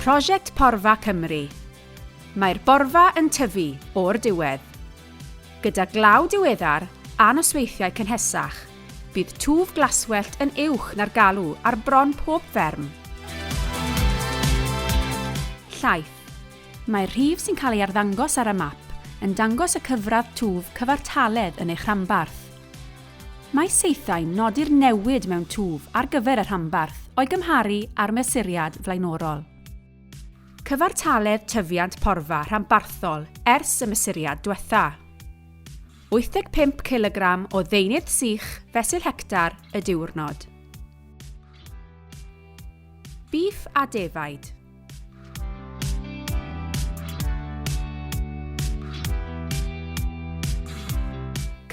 Prosiect Porfa Cymru Mae'r borfa yn tyfu o'r diwedd. Gyda glaw diweddar a nosweithiau cynhesach, bydd twf glaswellt yn uwch na'r galw ar bron pob fferm. Llaeth Mae'r rhif sy'n cael ei arddangos ar y map yn dangos y cyfradd twf cyfartaledd yn eich rhanbarth. Mae saethau'n nodi'r newid mewn twf ar gyfer y rhanbarth o'i gymharu â'r mesuriad flaenorol. Cyfartaledd tyfiant porfa rhanbarthol ers y mesuriad diwetha'. 85 cilogram o ddeunydd sych fesul hectar y diwrnod. Bîff a defaid.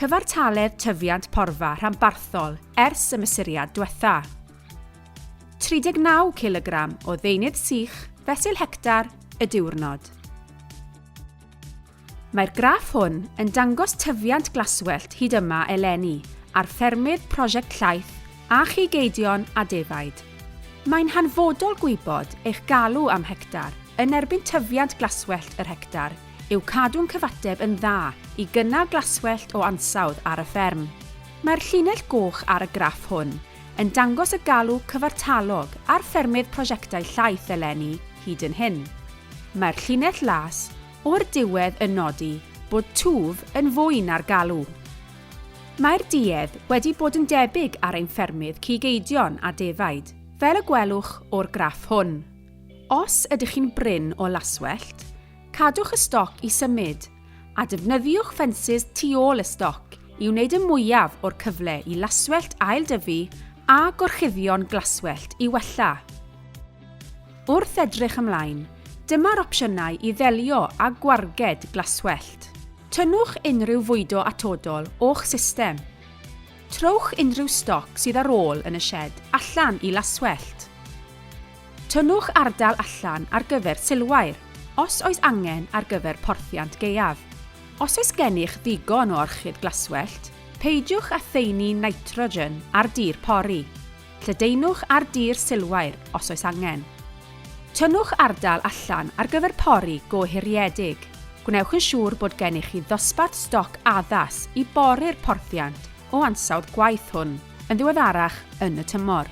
Cyfartaledd tyfiant porfa rhanbarthol ers y mesuriad diwetha. 39 kg o ddeunydd sych fesul hectar y diwrnod. Mae'r graff hwn yn dangos tyfiant glaswellt hyd yma eleni ar ffermydd Prosiect Llaeth a chi geidion a defaid. Mae'n hanfodol gwybod eich galw am hectar yn erbyn tyfiant glaswellt yr hectar yw cadw'n cyfateb yn dda i gynnal glaswellt o ansawdd ar y fferm. Mae'r llinell goch ar y graff hwn yn dangos y galw cyfartalog ar ffermydd Prosiectau Llaeth eleni hyd yn hyn. Mae'r llinell las O'r diwedd yn nodi bod twf yn fwy na'r galw. Mae'r duedd wedi bod yn debyg ar ein ffermydd cig eidion a defaid, fel y gwelwch o'r graff hwn. Os ydych chi'n brin o laswellt, cadwch y stoc i symud, a defnyddiwch ffensys tu ôl y stoc i wneud y mwyaf o'r cyfle i laswellt ail-dyfu a gorchuddio'n glaswellt i wella. Wrth edrych ymlaen, dyma'r opsiynau i ddelio â gwarged glaswellt. Tynnwch unrhyw fwydo atodol o'ch system. Trowch unrhyw stoc sydd ar ôl yn y sied allan i laswellt. Tynnwch ardal allan ar gyfer silwair, os oes angen ar gyfer porthiant gaeaf. Os oes gennych ddigon o orchid glaswellt, peidiwch â thaenu nitrogen ar dir pori. Lledaenwch ar dir silwair os oes angen. Tynnwch ardal allan ar gyfer pori go hiriedig. Gwnewch yn siŵr bod gennych chi ddosbarth stoc addas i bori'r porthiant o ansawdd gwaith hwn yn ddiweddarach yn y tymor.